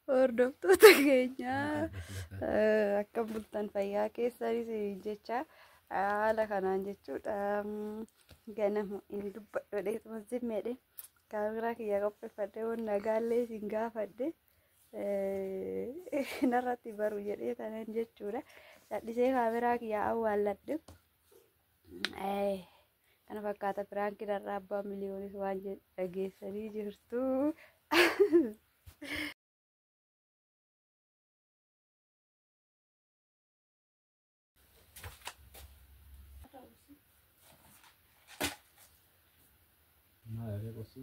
Hordoftoota keenya eh, akka bultan fayyaa keessanis jecha haala kanaan jechuudha mm, ganamu hin dubbadhu dheetuma zimmeedhe kaameraa kiyya qopheeffadhe waan nagaallee isin gaafadhe eh, narratti baru jedhee tanan jechuudha. Dhadhisee kaameraa kiyya awwaalladhe. Eh, Kana fakkaata piraankiin har'a abbaa miliyoonis waan jedhu dhageessanii jirtu. Maal aree qosi?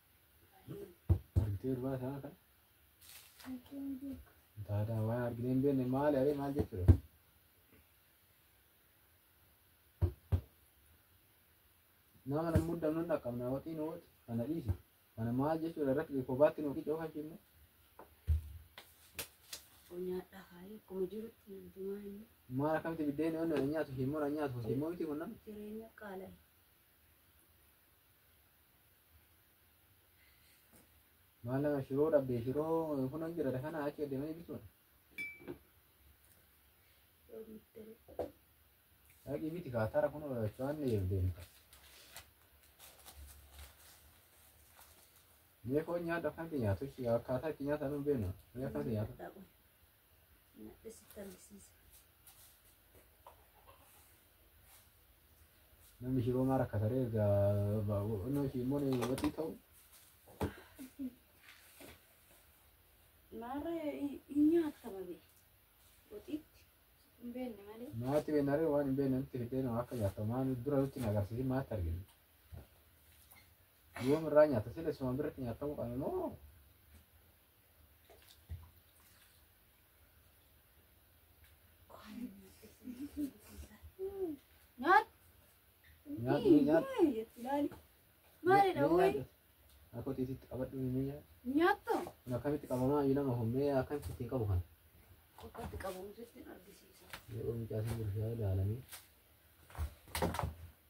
Bultii ulfaa isaa kan taataa waan arginee hin beekne maali aree maal jechuudha? Nama nan muddamnu dhaqqabna waxiin wooti kana dhiisi. Kana maal jechuudha rakki kophaatti nu qicoo kan shimne. Nyaadhaa haala akkuma jirutti namti maal inni Maal akkamitti biddeen yoon nyaatu shimmoo nyaatu shimmoo miti kun nama. jireenya qaala'e. Maal nama shiroo dhabdee shiroo kun hin jira kana achi adeemanii bituun. Dhaqii biti kaatara kun waan ni eegdeemu. Mee foon nyaata akkanatti nyaatu akkaataa itti nyaatan hin beeknu. Mee akkanatti nyaatu. Nadhisitti argisiisa. Namni shiroo maa rakkataree egaa onnoo ishii immoo ni waxii ta'u. Maarra hin nyaatta malee. Waxiitti hin beekne malee. Maatti beennaree waan hin beekne nutti fiddee nama akka nyaata maan dura nutti hin agarsiisin maatti arginu. Yoom irraa nyaata sila suma biratti nyaatamuu qabna moo Nyaadhu nyaadhu. Maalidha woy? Akka tiisitti qabadhu inni nyaadhu. Nyaatto? Kun akkamitti qabamaa yoo nama humnee akkamitti ittiin qabu kana. Qoqqatti qabamu sitti argisiisa. Yeroo mucaa isin bulchaa ilaalanii.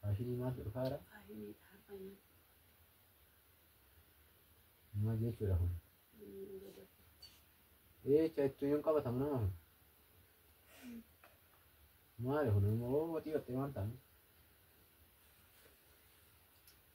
Faashinii maaltu dhufaa jira? Maal jechuudha kun? Eecha ittuu yoon qabatamu nama kun. Maali kun immoo watii waxxee waan ta'an.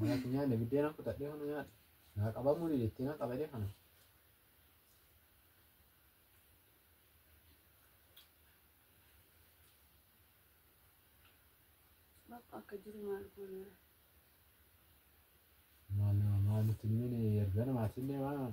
Nyaati nyaanne biddeena kutadhee kana nyaadhe. Naa qabamuu dideettee na qabadee kana. Maal nama maal nutti hin miine erga namaatillee waan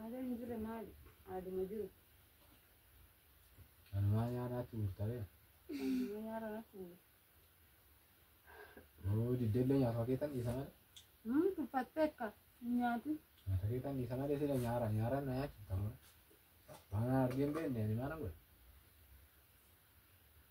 Aadaa hin jirre maali? Aaduma jiru. Kanumaa nyaataatti murtawee. Amma nyaara natti muru. Yoo diddeellee nyaata keetan dhiisa malee. Hmm, tuffattee akka hin nyaatu. Nyaata keetan dhiisa malee sila nyaara nyaara na nyaachifta malee. Waan argee hin beekne ani maana godhe.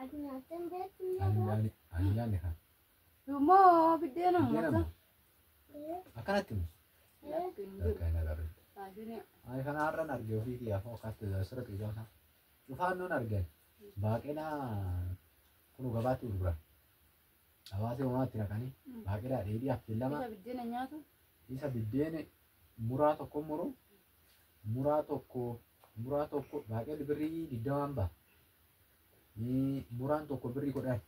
Ati nyaattee hin beektu hin Ani nyaatu. nyaanne ani nyaanne kan. Immoo biddeena Biddeena mata. moo? Akkanatti mus. Lakki hin jiru. Lakka hin agarre. Taasisni Ani kana har'an arge ofii kiyyaa foo kaatti asirra xiqqaa sana. Cufaan nuun argan. Baaqelaa kunu gabaatti gurguran. Hawaasni uumaatti naqanii baaqelaa dheedhii affeellama isa biddeena nyaatu. isa biddeene muraa tokko muru muraa tokko muraa tokko baaqelli birrii digdamaan baha. Ee, Muraan tokko birrii kudhan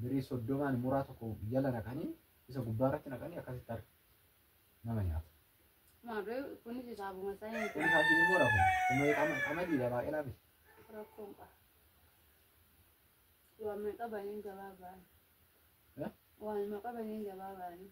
birrii soddomaan muraa tokko jala naqanii isa gubbaa irratti naqanii akkasitti harka nama nyaata. Maarree kunis hisaabuma isaa hin Kun isaa hin mura kun. Kun mee qama qamadiidha baaqelaa miti. rakkoon qaba. Waan meeqa baniin gabaa ba'an. Eh? Waan meeqa baniin gabaa ba'anii.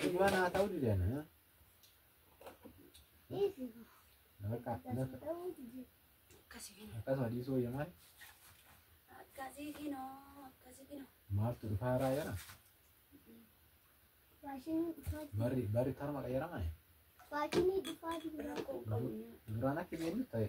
Dhugumaan haa ta'uu dideen. Bakka akkasuma dhiisuu wayya maali? Akkasii kinoo akkasii kinoo. Maaltu dhufaa irraa jira? Barri barri tarma qayyarama. Rakkoo qabu. Duraan akka beeknu ta'e.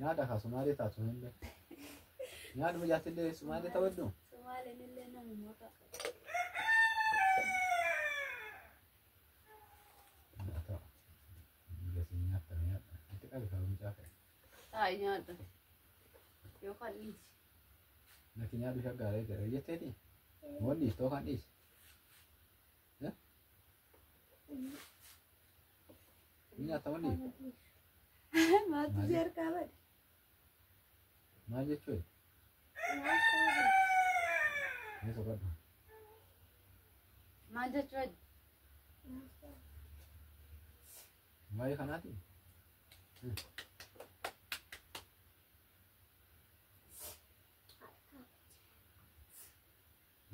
Nyaadha kaa sumaalee taatu hunda. Nyaadhuma jaattillee sumaalee ta'uu hedduu. Sumaaleen illee namuma ta'a. Taa'e nyaadha. Yookaan dhiisi. Naki nyaadhu shaggaalee jedha jetteeti. Moon dhiistoo kan dhiisi. Ni nyaata wani? Maaltu si harkaa bade? Maal jechuudha? Ni soqadha. Maal jechuudha? Waa'ee kanaati?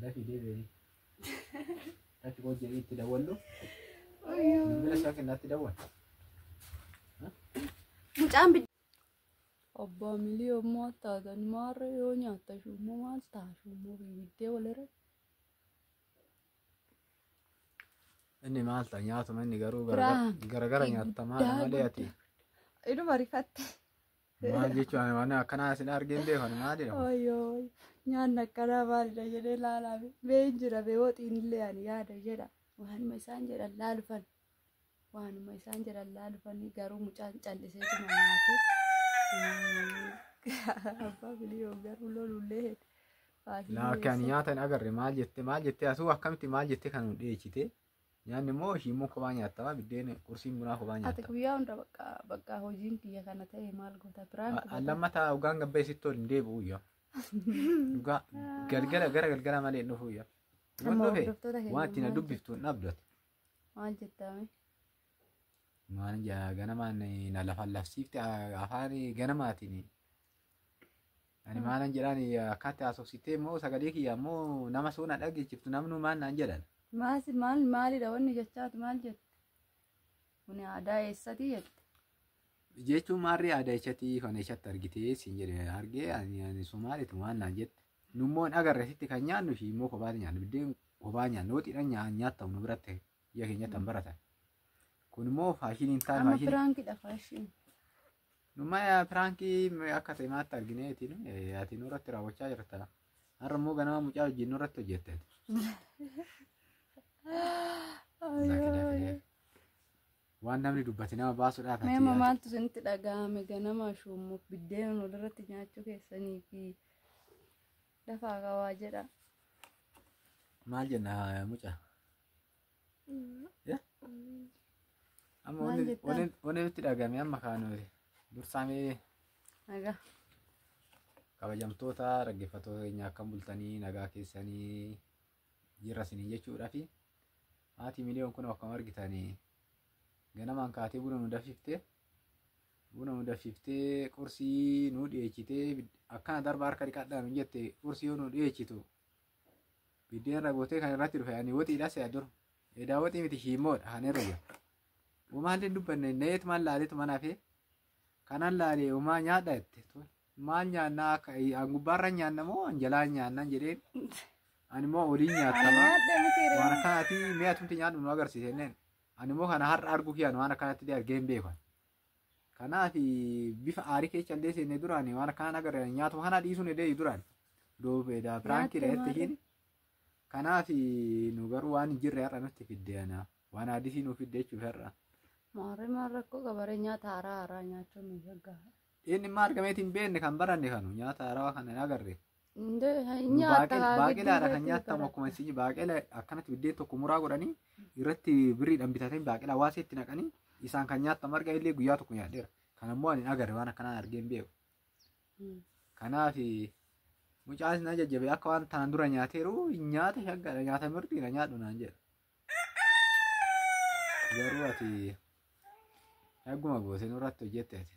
Dafii deebi'ee. Dafii koo jedhee itti dawwallu. Bilbila isaa kennaatti dawwal. Mucaan bid. Abbaa milii ammoo taatan maarra yoo nyaatta shummoo maal ta'a shummoo bibiddee walirra. Inni maal ta'a nyaatuma inni garuu Biraan garagara nyaatta maal guddaa malee ati. Inuma rifatte. Maal jechuun ani waan akkanaa isin argeen beekan maal jedhama? Oyyoo nyaanni akkanaa maalidha jedhee laalaa bee hin jira bee waxiin illee ani yaada jedha waanuma isaan jedhan laalufan waanuma isaan jedhan laalufan garuu mucaan callisee tuma nyaate abbaa biliyoo garuu lolullee hedde. Laa akkaan nyaata hin agarre maal jette maal jette asuu akkamitti maal jette kan nu dheechite Nyaanni immoo shiimmoo kophaa nyaattama biddeen qursiin bunaa kophaa Ati nyaattama. guyyaa hunda bakka bakka hojiin kiyya kana ta'e maal goota biraan A- an Lammataa hoggaan gabbee sitti ol hin deebi'u iyya. Dhugaa galgala gara galgala malee hin dhufu iyya. Amma Waan dhufe hordoftoota keenya waan ittiin maal dubbiftu hin dhabdu ati. maal jettame Maal jaa ganamaan na lafaan lafsiifte a- afaan ganamaatiin Ani maalan jedhaan akkaatti haasofsittee immoo sagalee kiyya immoo nama soo na dhageechiftu namnuu maal naan jedhan. Maas maal maalidha wanni jechaatu maal jette? Kuni aadaa eessati jette? Jechuun maarree aadaa eessatti kan eessatti argitee siin jedhe argee ani ani Somaaliitu waan naan jette. Nummoon agarre sitti kan nyaannu fi immoo kophaatti nyaannu biddeen kophaa nyaannu hoxiidhaan nyaa nyaattamu nu biratti biyya keenyatti kan baratan. Kun immoo faashiniin ta'a Amma faashinii. piraankidha faashin. Numaya piraankii akka ta'e maatti argine ati nu ati nurratti raawwachaa jirta. Har'a immoo ganama mucaa wajjin nurratti hojjette. Waan namni dubbate nama baasuudhaaf ati Meema yaada. maaltu isinitti dhaga'ame ganama shuummuuf biddeen walirratti nyaachuu keessanii fi dafaa qabaa jedha. Maal jenna mucaa? Amma Maal jettan? waneen itti dhagame amma kaanoote. Dursaamee Nagaa. kabajamtoota dhaggeeffattoota keenya akkam bultanii nagaa keessanii jirra isiniin jechuudha fi haati miliyoon kun akkam argitanii ganamaan kaatee buna nu danfiftee buna nu danfiftee qursii nu dhiyeechitee bid- akkana darba harka dhiqadhaa nu jette qursii yoo nu dhiyeechitu Biddeen irra gootee kan irratti dhufe ani woxiidha si'a dur. Edaa woxii miti shiimmoodha kan irra jiru. Umaan hin dubbanne neet maal laaleetu mana hafee. Kanan laalee umaa nyaadha jette. Maal nyaannaa akka an gubbaarra nyaanna moo an jalaa nyaannan jedheen. Ani moo oliin nyaattama. Waan akkanaatii mee atumti nyaadhu nu agarsiisenneen. Ani moo kana har'a arguu kiyaan waan akkanatti illee argee hin beekan. Kanaaf bifa aarii keessa illee seenne duraan waan akkaan agarre nyaatuma kana dhiisuun illee duraan duubeedha piraankii Nyaatuma dhahatti ishiin. Kanaaf nu garuu waan hin jirre har'a nutti fidde ana waan aadisii nu fidde jechuuf har'a. Maarree maal rakkoo qabaree nyaata haaraa haaraa nyaachuun nu shaggaa. Inni immoo argameetiin beekne kan baranne kanu nyaata haarawaa kana hin agarre. Baaqelaadha kan nyaatamu akkuma isin baaqela akkanatti biddeen tokko muraa godhanii irratti birriidhaan bitatanii baaqelaa waasee itti naqanii isaan kan nyaatamu marga illee guyyaa tokko nyaadheera. Kan ammoo ani agarre waan akkanaa argee hin beeku. Kanaaf mucaan na jajjabe akka waan tanaan dura nyaateeru nyaata shaggaadha nyaata mirgi na nyaadhu naan jedha. Garuu ati shagguma gootee nurratti hojjette ati.